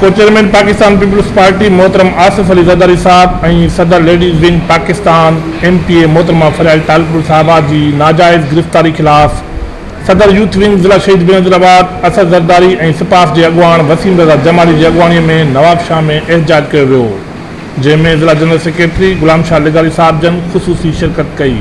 ڪو chairman Pakistan peoples party محترم آصف علي زرداري صاحب ۽ صدر ladies wing Pakistan M P A محترمه فريال ٽالپر صاحبه جي ناجائز گرفتاري خلاف صدر يوٿ ونگ ضلع شهيد بينظيرآباد اسد زرداري ۽ سپاس جي اڳواڻ وسيم رضا جمالي جي اڳواڻي ۾ نوابشاهه ۾ احتجاج ڪيو ويو جنهن ۾ ضلع جنرل سيڪريٽري غلام شاهه لغاري صاحب جن خصوصي شرڪت ڪئي.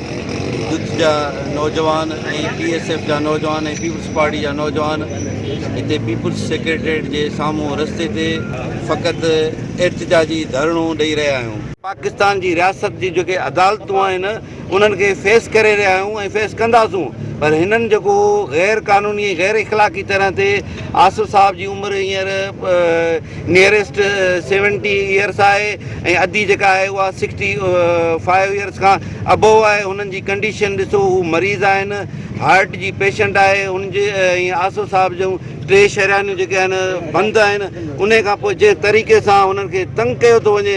جٿ جا نوجوان ۽ بي ايس ايف جا نوجوان ۽ پيپلز پارٽي جا نوجوان هتي پيپلز سيڪريٽريٽ جي سامهون رستي تي فقط احتجاجي ڌرڻو ڏئي رهيا آهيون. پاڪستان جي رياست جي جيڪي عدالتون آهن انهن کي فيس ڪري رهيا آهيون ۽ فيس ڪنداسون پر هنن جيڪو غير قانوني ۽ غير اخلاقي طرح تي آصف صاحب جي عمر هينئر نيئريسٽ سيونٽي ايئرس آهي ۽ ادي جيڪا آهي اها سڪسٽي فائيو ايئرس کان ابو آهي هنن جي ڪنڊيشن ڏسو هو مريض آهن هارٽ جي پيشنٽ آهي هن جي ۽ آسو صاحب جون ٽي شهريانيون جيڪي آهن بند آهن ان کان پوء جنهن طريقي سان هنن کي تنگ ڪيو ٿو وڃي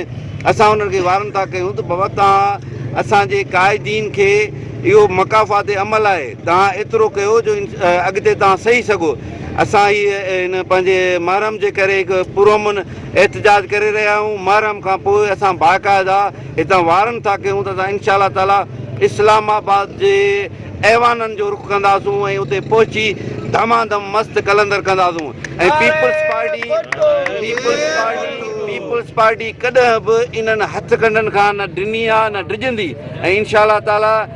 اسان هنن کي وارن ٿا ڪيون ته بابا توهان اسان جي قائدين کي اهو مقافات عمل آهي توهان ايترو ڪيو جو اڳتي توهان سهي سگهو اسان هي هن پنهنجي محرم جي ڪري هڪ پرامن احتجاج ڪري رهيا آهيون محرم کان پوء اسان باقاعده هتان وارن ٿا ڪيون ته اسان انشاء الله تعالي اسلام آباد جي ايوانن جو رخ ڪنداسون ۽ اتي پهچي ڌما ڌم مست قلندر ڪنداسون ۽ peoples party peoples party peoples party ڪڏهن به انهن هٿ ڪنڊن کان نه ڊني آهي نه ڊڄندي ۽ انشاء الله تعالي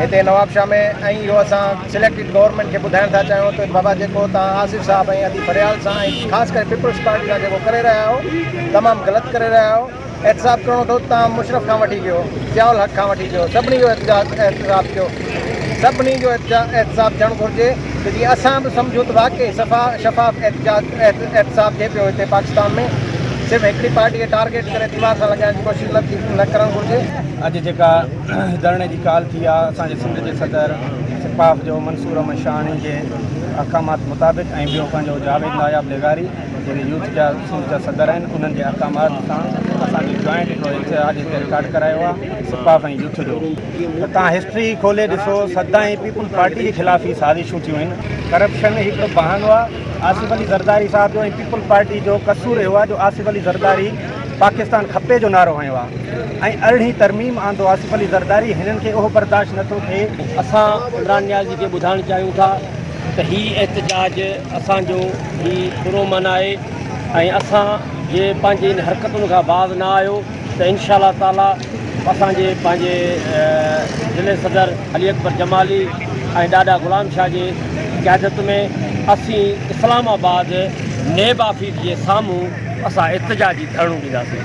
هتي نوابشاهه ۾ ۽ اهو اسان سليڪٽيڊ گورنمينٽ کي ٻڌائڻ ٿا چاهيون ته بابا جيڪو توهان آصف صاحب ۽ ادي فريال سان ۽ خاص ڪري پيپلز پارٽي سان جيڪو ڪري رهيا آهيو تمام غلط ڪري رهيا آهيو احتساب ڪرڻو اٿو ته توهان مشرف کان وٺي ڪيو ضياء الحق کان وٺي ڪيو سڀني جو احتساب ڪيو سڀني جو احتساب ٿيڻ گهرجي ته جي اسان به سمجهون ته واقعي صفا شفاف احتساب ٿئي پيو هتي پاڪستان ۾ صرف هڪڙي پارٽي کي ٽارگيٽ ڪري ديوار سان لڳائڻ جي ڪوشش نه ٿي نه ڪرڻ گهرجي اڄ جيڪا ڌرڻي جي ڪال ٿي آهي اسان جي سنڌ جي صدر سپاف جو منصور احمد شاهاڻي جي احڪامات مطابق ۽ ٻيو پنهنجو جاويد ناياب لغاري جيڪي يوٿ جا سنڌ جا صدر آهن انهن جي احڪامات سان اسان جو جوائنٽ هڪڙو اتحاد هتي رڪارڊ ڪرايو آهي سپاف ۽ يوٿ جو ته تان هسٽري ئي کولي ڏسو سدائين پيپلز پارٽي جي خلاف ئي سازشون ٿيون آهن ڪرپشن هڪڙو بهانو آهي آصف علي زرداري صاحب جو ۽ پيپلز پارٽي جو قصور اهو آهي جو آصف علي زرداري پاڪستان کپي جو نعرو هنيو آ ۽ ارڙهين ترميم آندو آصف علي زرداري هنن کي اهو برداشت نه ٿو ٿئي. اسان عمران نيازي کي ٻڌائڻ چاهيون ٿا ته هي احتجاج اسان جو ئي پرامن آهي ۽ اسان جي پنهنجي ان حرڪتن کان باز نه آيو ته انشاء الله تعالي اسان جي پنهنجي ضلعي صدر علي اڪبر جمالي ۽ ڏاڏا غلام شاهه جي قيادت ۾ اسين اسلام آباد نيب آفيس جي سامهون اسان احتجاجي ڌرڻو ڏينداسين.